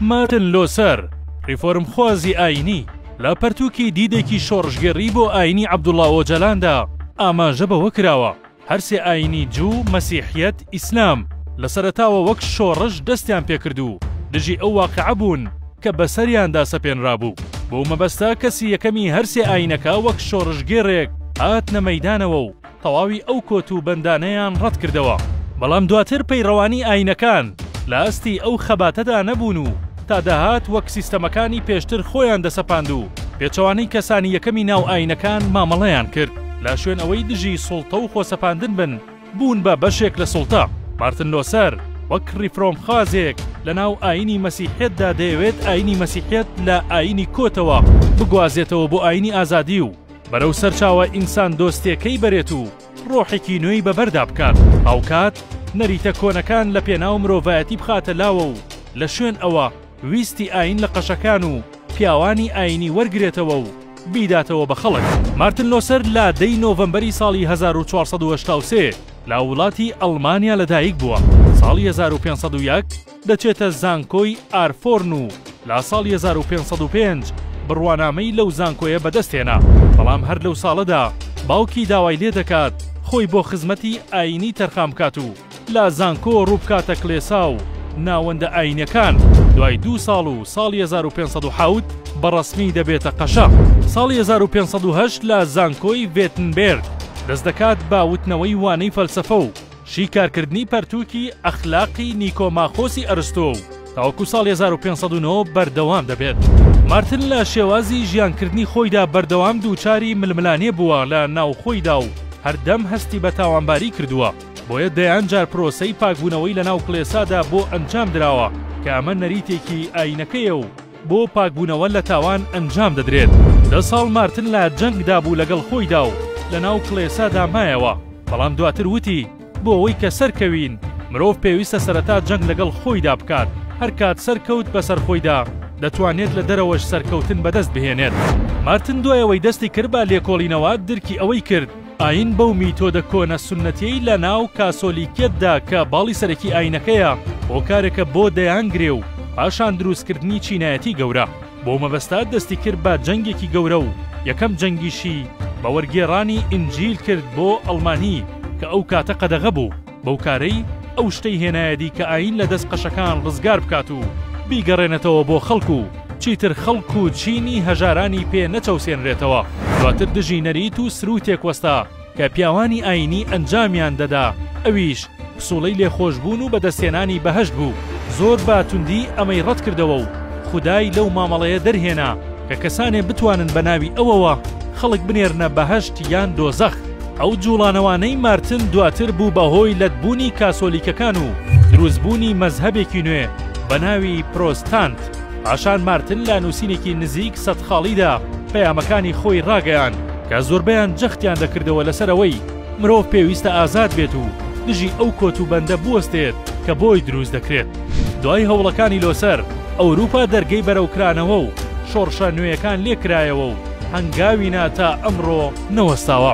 مارتن لۆسەر، ڕیفۆرمخوازی ئایینی، لە پەرتووکی دیدێکی شۆڕشگێڕی بۆ ئایینی عەبدوڵا ئۆجەلاندا ئاماژە بەوە کراوە، هەر سێ ئایینی جوو، مەسیحیەت، ئیسلام، لە سەرەتاوە وەک شۆڕش دەستیان پێکرد و دژی ئەو واقعە بوون کە بەسەریاندا سەپێنرابوو. بەو مەبەستە کەسی یەکەمی هەر سێ ئایینەکە وەک شۆڕشگێڕێک هاتنە مەیدانەوە و، تەواوی ئەو کۆت و بەندانەیان ڕەت کردەوە، بەڵام دواتر پەیڕەوانی ئاینەکان لە ئاستی ئەو خەباتەدا نەبوون و تا دەهات وەک سیستەمەکانی پێشتر خۆیان دەسەپاند و پێچەوانەی کەسانی یەکەمی ناو ئاینەکان مامەڵەیان کرد لە شوێن ئەوەی دژی سوڵتە و خۆسەپاندن بن بوون بە بەشێک لە سوڵتە. مارتن لۆسەر وەک ڕیفرۆمخوازێک لە ناو ئاینی مەسیحیەتدا دەیەوێت ئاینی مەسیحیەت لە ئاینی کۆتەوە بگوازێتەوە بۆ ئاینی ئازادی و، بەرەو سەرچاوە ئینسان دۆستێکەی بەرێت و ڕۆحێکی نوێی بەبەردا بکات، هاوکات نەریتە کۆنەکان لە پێناو مرۆڤایەتی بخاتە لاوە و لە شوێن ئەوە ویستی ئاین لە قەشەکان و پیاوانی ئاینی وەرگرێتەوە و بیداتەوە بە خەڵک. مارتن لۆسەر لە دە ی نۆڤەمبەری ساڵی هەزار و چوار سەد و هەشتا و سێ لە وڵاتی ئەڵمانیا لەدایک بووە، ساڵی هەزار و پێنج سەد و یەک، دەچێتە زانکۆی ئارفۆرن و لا ساڵی هەزار و پێنج سەد و پێنج بڕوانامەی لەو زانکۆیە بەدەست هێنا بەڵام هەر لەو ساڵەدا باوکی داوای لێ دەکات خۆی بۆ خزمەتی ئایینی تەرخان بکات و لا زانکۆ ڕووبکاتە کڵێسا و ناوەندە ئایینیەکان دوای دوو ساڵ و ساڵی هەزار و پێنج سەد و حەوت بە ڕەسمی دەبێتە قەشە ساڵی هەزار و پێنج سەد و هەشت لە زانکۆی ڤێتنبێرگ دەست دەکات بە وتنەوەی وانەی فەلسەفە و شیکارکردنی پەرتووکی ئەخلاقی نیکۆماخۆسی ئەرستۆ و تاوەکو ساڵی هەزار و پێنج سەد و نۆ بەردەوام دەبێت. مارتن لە شێوازی ژیانکردنی خۆیدا بەردەوام دووچاری ململانێ بووە لە ناوخۆیدا و هەردەم هەستی بە تاوانباری کردووە، بۆیە دەیان جار پرۆسەی پاکبوونەوەی لەناو کڵێسادا بۆ ئەنجام دراوە کە ئەمە نەریتێکی ئایینەکەیە و بۆ پاکبوونەوە لە تاوان ئەنجام دەدرێت. دە ساڵ مارتن لە جەنگدا بوو لەگەڵ خۆیدا و لەناو کڵێسادا مایەوە، بەڵام دواتر وتی، بۆ ئەوەی کە سەرکەوین، مرۆڤ پێویستە سەرەتا جەنگ لەگەڵ خۆیدا بکات، هەر کات سەرکەوت بەسەر خۆیدا، دەتوانێت لە دەرەوەش سەرکەوتن بەدەست بهێنێت. مارتن دوای ئەوەی دەستی کرد بە لێکۆڵینەوە، درکی ئەوەی کرد، ئایین بەو میتۆدە کۆنە سوننەتیەی لە ناو کاسۆلیکیەتدا کە باڵی سەرەکی ئایینەکەیە، هۆکارێکە بۆ دەیان گرێ و پاشان دروستکردنی چینایەتی گەورە. بەو مەبەستە دەستی کرد بە جەنگێکی گەورە و یەکەم جەنگیشی بە وەرگێڕانی ئینجیل کرد بۆ ئەڵمانی کە ئەو کاتە قەدەغە بوو. بەو کارەی ئەو شتەی هێنایەدی کە ئایین لە دەست قەشەکان ڕزگار بکات و بیگەڕێنێتەوە بۆ خەڵک و چیتر خەڵک و چینی هەژارانی پێ نەچەوسێنرێتەوە. دواتر دژی نەریت و سرووتێک وەستا کە پیاوانی ئایینی ئەنجامیان دەدا، ئەویش پسووڵەی لێخۆشبوون و بەدەستهێنانی بەهەشت بوو. زۆر بە توندی ئەمەی ڕەت کردەوە و خودای لەو مامەڵەیە دەرهێنا کە کەسانێ بتوانن بە ناوی ئەوەوە خەڵک بنێرنە بەهەشت یان دۆزەخ. ئەو جوڵانەوانەی مارتن دواتر بوو بە هۆی لەتبوونی کاسۆلیکەکان و دروستبوونی مەزهەبێکی نوێ بە ناوی پرۆستانت، پاشان مارتن لە نووسینێکی نزیک سەد خاڵیدا پەیامەکانی خۆی ڕاگەیاند کە زۆربەیان جەختیان دەکردەوە لەسەر ئەوەی مرۆڤ پێویستە ئازاد بێت و دژی ئەو کۆتوبەندە بوەستێت کە بۆی دروست دەکرێت. دوای هەوڵەکانی لۆسەر، ئەوروپا دەرگەی بەرەوکرانەوە و شۆڕشە نوێیەکان لێکرایەوە و هەنگاوی نا تا ئەمڕۆ، نەوەستاوە.